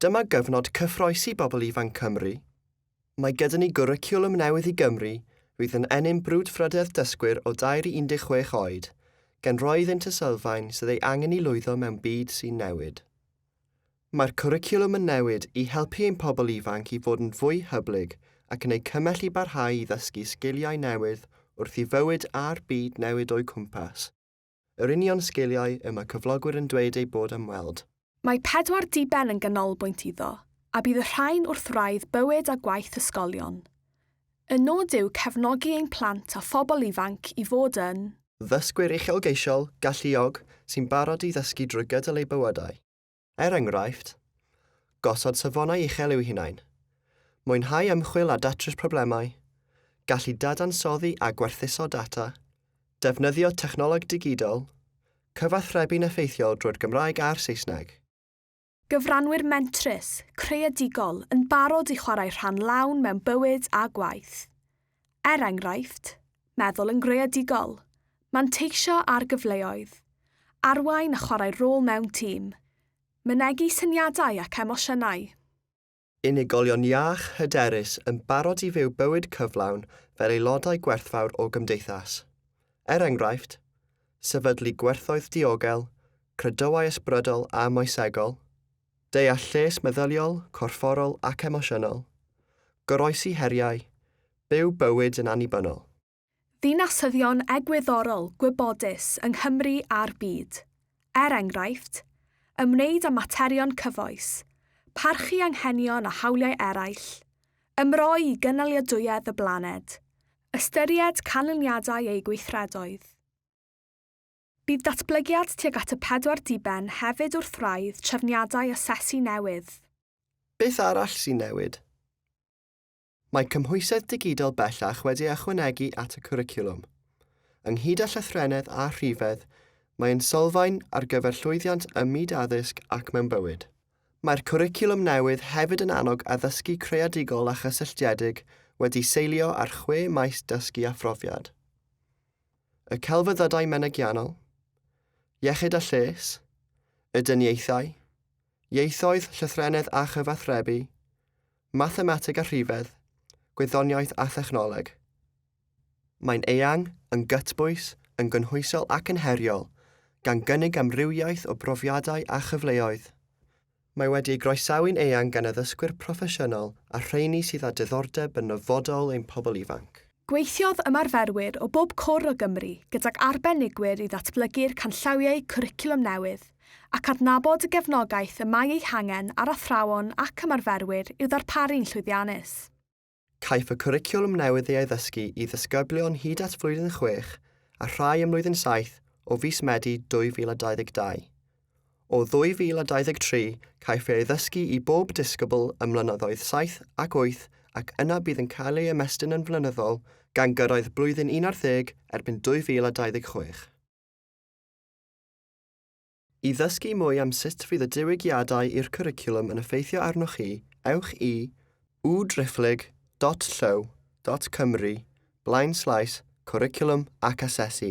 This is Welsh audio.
Dyma gyfnod cyffroesi bobl ifanc Cymru. Mae gyda ni gwricwlwm newydd i Gymru fydd yn ennyn brwdfrydedd dysgwyr o dair i 16 oed, gan roi iddynt y sylfaen sydd ei angen i lwyddo mewn byd sy'n newid. Mae'r cwricwlwm yn newid i helpu ein pobl ifanc i fod yn fwy hyblyg ac yn eu cymell i barhau i ddysgu sgiliau newydd wrth i fywyd a'r byd newid o'u cwmpas. Yr union sgiliau y mae cyflogwyr yn dweud eu bod am weld. Mae pedwar diben yn ganolbwynt iddo, a bydd y rhain wrth wraidd bywyd a gwaith ysgolion. Y nod yw cefnogi ein plant a phobl ifanc i fod yn. Ddysgwyr uchelgeisiol, galluog, sy'n barod i ddysgu drwy gydol eu bywydau. Er enghraifft, gosod safonau uchel i'w hunain, mwynhau ymchwil a datrys problemau, gallu dadansoddi a gwerthuso data, defnyddio technoleg digidol, cyfathrebu'n effeithiol drwy'r Gymraeg a'r Saesneg. Gyfranwyr mentrus, creadigol, yn barod i chwarae rhan lawn mewn bywyd a gwaith. Er enghraifft, meddwl yn greadigol, manteisio ar gyfleoedd, arwain a chwarae rôl mewn tîm, mynegi syniadau ac emosiynau. Unigolion iach, hyderus, yn barod i fyw bywyd cyflawn fel aelodau gwerthfawr o gymdeithas. Er enghraifft, sefydlu gwerthoedd diogel, credoau ysbrydol a moesegol, Deall lles meddyliol, corfforol ac emosiynol. Goroesi heriau. Byw bywyd yn annibynnol. Ddinasyddion egwyddorol gwybodus yng Nghymru a'r byd. Er enghraifft, ymwneud â materion cyfoes, parchu anghenion a hawliau eraill, ymroi i gynaliadwyedd y blaned, ystyried canlyniadau eu gweithredoedd. Bydd datblygiad tuag at y pedwar diben hefyd wrth wraidd trefniadau asesu newydd. Beth arall sy'n newid? Mae cymhwysedd digidol bellach wedi ei ychwanegu at y cwricwlwm. Ynghyd â llythrennedd a rhifedd, mae'n sylfaen ar gyfer llwyddiant ym myd addysg ac mewn bywyd. Mae'r cwricwlwm newydd hefyd yn annog addysgu creadigol a chysylltiedig wedi seilio ar chwe maes dysgu a phrofiad. y celfyddydau menygiannol, iechyd a lles, y dyniaethau, ieithoedd, llythrennedd a chyfathrebu, mathemateg a rhifedd, gwyddoniaeth a thechnoleg. Mae'n eang, yn gytbwys, yn gynhwysol ac yn heriol, gan gynnig amrywiaeth o brofiadau a chyfleoedd. Mae wedi ei groesawu'n eang gan addysgwyr proffesiynol a'r rheini sydd â diddordeb yn nyfodol ein pobl ifanc. Gweithiodd ymarferwyr o bob cwr o Gymru gydag arbenigwyr i ddatblygu'r canllawiau cwricwlwm newydd ac adnabod y gefnogaeth y mae ei hangen ar athrawon ac ymarferwyr i'w ddarparu'n llwyddiannus. Caiff y cwricwlwm newydd ei addysgu i ddysgyblion hyd at flwyddyn chwech a rhai ym mlwyddyn saith o fis Medi 2022. O 2023 caiff ei addysgu i bob disgybl ym mlynyddoedd saith ac wyth ac yna bydd yn cael ei ymestyn yn flynyddol gan gyrraedd blwyddyn un ar ddeg erbyn 2026. I ddysgu mwy am sut fydd y diwygiadau i'r cwricwlwm yn effeithio arnoch chi, ewch i www.driphlyg.llyw.cymru blaenslaes cwricwlwm ac asesu.